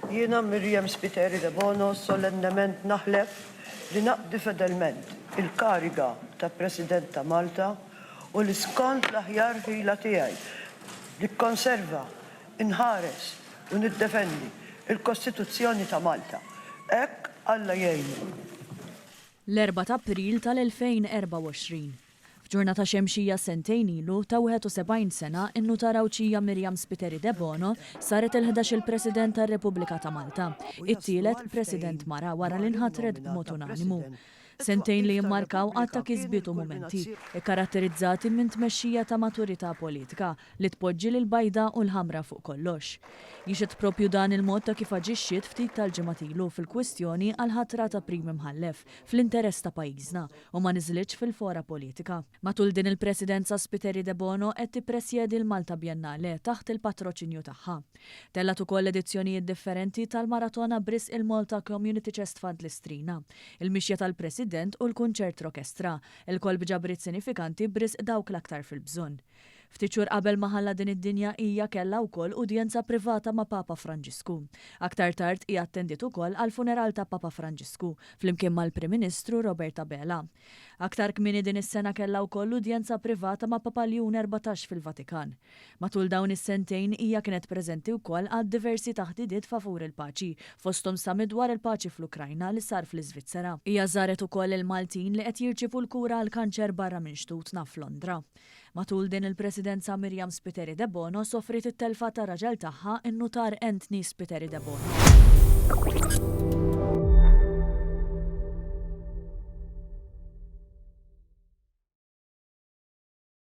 Jiena, Miriam Spiteri Debono, solennement naħlef li naqdi fedelment il-kariga ta' President ta' Malta u li skont l-aħjar ħila tiegħi nikkonserva, inħares u niddefendi l-Kostituzzjoni ta' Malta. Hekk Alla jgħinni. L-Erbgħa t'April tal-2024. F'ġurnata xemxija sentejn ilu, ta' 71 sena, in-Nutar Għawdxija Miriam Spiteri Debono saret il-ħdax-il President tar-Repubblika ta' Malta, it-tielet President mara wara li nħatret b'mod unanimu. Sentejn li jimmarkaw għadd ta' kisbiet u mumenti, ikkaratterizzati minn tmexxija ta' maturità politika li tpoġġi lill-bajda u l-ħamra fuq kollox. Jixhed proprju dan il-mod ta' kif aġixxiet ftit tal-ġimgħat ilu fil-kwistjoni għall-ħatra ta' Prim Imħallef fl-interess ta' pajjiżna, u ma niżlitx fil-fora politika. Matul din il-Presidenza Spiteri Debono qed tippresjedi l-Malta Biennale taħt il-patroċinju tagħha. Tellgħet ukoll edizzjonijiet differenti tal-Maratona b'risq il-Malta Community Chest Fund Listrina, il-mixja tal-President u l-kunċert rokestra, ilkoll b'ġabriet sinifikanti b'risq dawk l-aktar fil-bżonn. Ftit xhur qabel ma ħalla din id-dinja hija kellha wkoll udjenza privata ma' Papa Franġisku. Aktar tard hi attendiet ukoll għall-funeral ta' Papa Franġisku, flimkien mal-Prim Ministru Robert Abela. Aktar kmieni din is-sena kellha wkoll udjenza privata ma' Papa Ljun Erbatax fil-Vatikan. Matul dawn is-sentejn hija kienet preżenti wkoll għal diversi taħdidiet favur il-paċi, fosthom summit dwar il-paċi fl-Ukrajna li sar fl-Iżvizzera. Hija żaret ukoll il-Maltin li qed jirċievu l-kura għall-kanċer barra minn xtutna f'Londra. Matul din il-Presidenza Miriam Spiteri Debono sofriet it-telfa ta' raġel tagħha, in-Nutar Anthony Spiteri Debono.